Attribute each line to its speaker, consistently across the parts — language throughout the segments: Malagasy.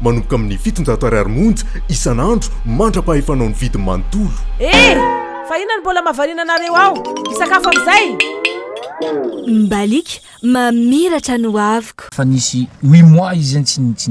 Speaker 1: Manomboka amin'ny fitonjato ariary monja isan'andro mandra-pahefanao ny vidiny manontolo. Hey! Fa
Speaker 2: inona no mbola mahavariana anareo ao? Hisakafo amin'izay! Mbaliaka
Speaker 3: mamiratra ny hoaviko. Fa nisy huit
Speaker 4: mois izy zany tsy.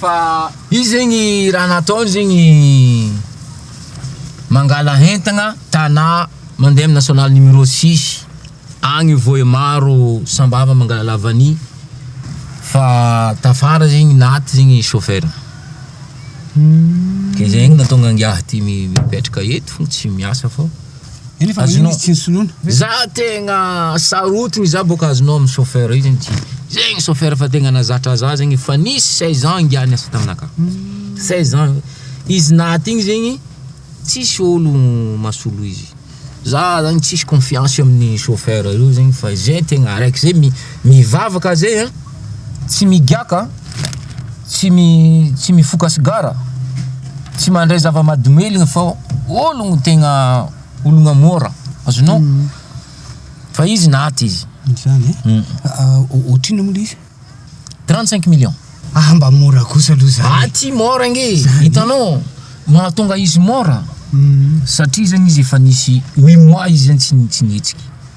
Speaker 4: Fa izy zegny raha nataony zegny mangala hentagna tana mandeha amina national numero six agny vohemaro sambava mangalala vanille fa tafara zegny naty zegny chauffeur de zegny natonga angiahy ty mipetraka eto tsy miasa fô. Azonao Za tegna sarotiny za boka azonao amin'ny chauffeur io zegny tsy zegny chauffeur fa tegna nazatra za zegny efa nisy seize ans ingahy niasa taminakahy seize ans izy naty igny zegny tsisy olo masolo izy za zany tsisy confiance amin'ny chauffeur io zegny fa ze tegna araiky ze mi- mivavaka ze a. Tsy migiaka, tsy mi tsy mifoka sigara, tsy mandray zava-mahadomelina fa ologno tegna ologna môra, azonao? Fa izy naty izy. Izany e?
Speaker 5: Hum. Ohatr'inona moa le izy? 35
Speaker 4: millions. Ah mba môra
Speaker 5: kosa aloha zany. Aty môra ange e! Zany.
Speaker 4: Hitanao, mahatonga izy môra, Hum. satria zany izy efa nisy huit mois izy zany tsy tsy nihetsiky.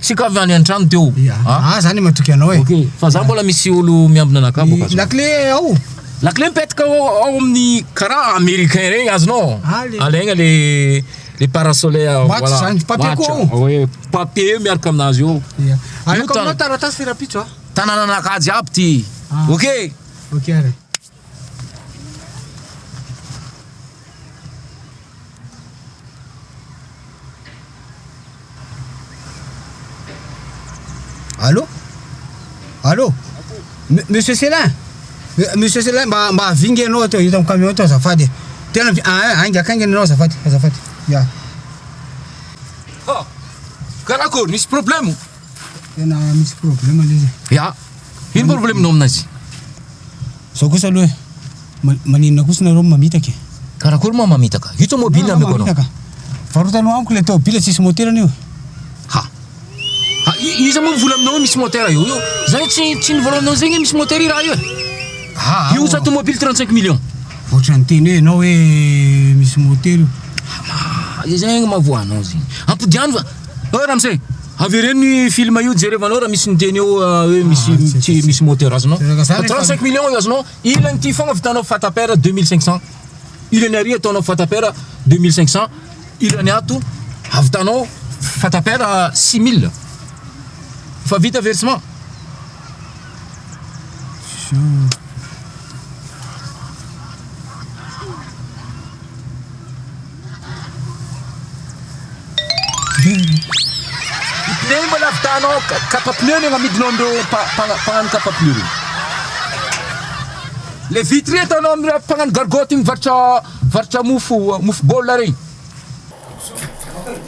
Speaker 4: Tsy ko avy any antrano teo. Ya. Ah zany matoky
Speaker 5: anao e. Ok, fa za mbola misy
Speaker 4: olo miambina anakah boka atsy. Lakile ao.
Speaker 5: Lakile mipetraka
Speaker 4: ao ao amin'ny karaha americain regny azonao? Ah, le- Alaigna le le parasole Maty voilà. zany, papier Maty, koa
Speaker 5: ao. ah, ouais,
Speaker 4: papier miaraka aminazy eo. Ya. Aleko Io tan- aminao
Speaker 5: taratasy rapitso a. Tanananakah jiaby
Speaker 4: ty. Ah. Ok. Ok ary.
Speaker 5: Allô Allô Monsieur Célin Monsieur Célin mba mba vinga ianao ato hita amin'ny camion ato azafady e. Tena vi- ah, ah, ainga akaingana ianao azafady azafady. Ya.
Speaker 4: Karakôry, misy problème? Tena
Speaker 5: misy problème le izy. Ya.
Speaker 4: Ino problème-nao aminazy?
Speaker 5: Zao kosa aloha e. Maninona kosa nareo mamitaka e? Karakory moa
Speaker 4: mamitaka? Io tomobile ameko anao. Mamitaka. Varotano
Speaker 5: amiko le tomobile tsisy
Speaker 4: moteur-ny
Speaker 5: io. Ha. Ha,
Speaker 4: iza moa mivola aminao misy moteur io? Io zany tsy tsy nivola aminao zegny misy moteur i raha io e. Ha. Io sa tomobile 35 millions. Ohatran'ny teny hoe
Speaker 5: ianao hoe misy moteur io. Izay zegny mahavoa
Speaker 4: anao zegny. Ampodiano fa Oh Ramsey, avereno ny film io jerevanao raha misy miteny eo ah, hoe misy ah, tsy misy moteur azonao. 35 millions azonao. Ilany ity fogna vitanao fatapera 2500. Ilany ary ataonao fatapera 2500. Ilany ato avitanao fatapera 6000. Fa vita versement. Nembo lavidanao kapa pneu ny agnamidinao an'ireo mpagnano kapa pneu ireo. Le vitre ataonao amin'ireo mpagnano gargotte mivarotra varotra mofo mofo baolina regny.